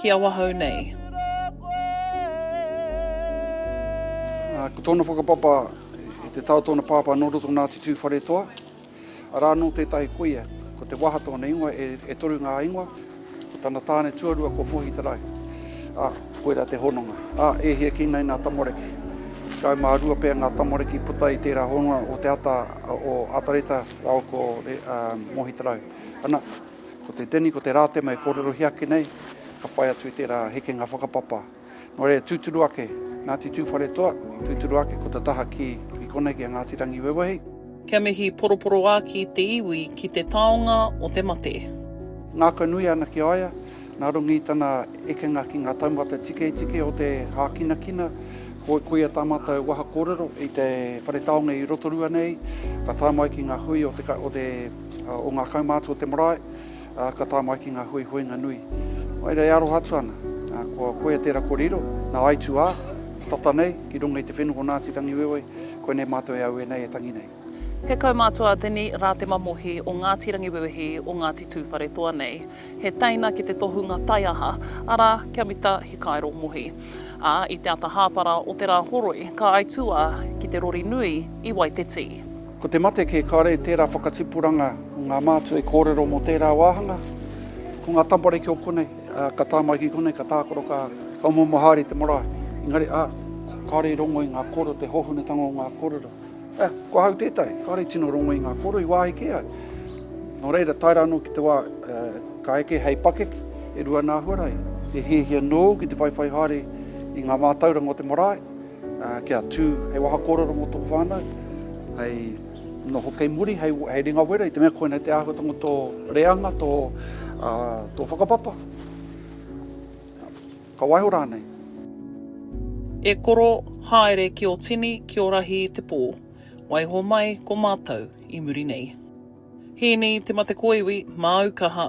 ki awahou nei. Ko tōna whakapapa i te tao tōna pāpā nō roto nā te tūwharetoa, arā nō tētahi koia, ko Te Waha tōna ingoa, e, e toru ngā ingoa, ko tana tāne tuarua ko Puhi Te Rau. Ā, koirā te hononga. Ā, e hia ki nei nā tamariki? Tekau mā rua pea ngā tamariki puta i tērā hononga o te ata o Atareta rāua ko Mohi Te Rau. Ana. Ko te tini, ko te rātema e kōrerohia ake nei, ka whai atu i tērā hekenga whakapapa. Nō reira, tūturu ake, Ngāti Tūwharetoa, tūturu ake ko te taha ki, i konei ki a Ngāti Rangiwewehi. Kia mihi poroporoāki te iwi ki te taonga o te mate. Ngākau nui ana ki a ia, nā runga i tana ekenga ki ngā taumata tiketike o te hākinakina, ko, ko ia tā mātou waha kōrero i te whare taonga i Rotorua nei, ka tae mai ki ngā hui o te, o te. o ngā kaumātua o te marae, ka tae mai ki ngā huihuinga nui. Mai rā e aroha atu ana, ko koe tērā kore iro, nā aitu ā, tata nei, ki runga i te whenua o Ngāti Rangiwewehi, koinei mātou e aue nei e tangi nei. He kaumātua a Dini rā te mamohi o Ngāti Rangiwewehi o Ngāti Tūwharetoa nei. He teina ki te tohunga taiaha, arā, kia mita hikairo mohi. Ā, i te ata hāpara o te rā horoi, ka aitu ā, ki te rori nui i Waiteti. Ko te mate kē kāre tērā whakatipuranga o ngā mātua i kōrero mō tērā wāhanga. Ko ngā tamariki o konei, ka tae mai ki konei, ka tākaro, ka momo haere i te marae. Engari, ā, kāre i rongo i ngā kōrero, te hōhonutanga o ngā kōrero. Ā, ko ahau tētahi, kāre i tino rongo i ngā kōrero i wāhi kē ai. Nō reira, tae rā anō ki te wā ka eke hei pakeke, e rua nā Huarahi, e hiahia noa au ki te whaiwhai haere i ngā mātauranga o te marae, Kia tū hei waha kōrero mō tō whānau, hei noho kei muri, hei, hei ringa wera, i te mea koinei te āhuatanga tō reanga, tō, uh, tō whakapapa. Ka waiho rānei. E koro, haere ki o tini, ki o rahi i te pō. Waiho mai ko mātou i muri nei. Hīni te mate kōiwi, māu kaha.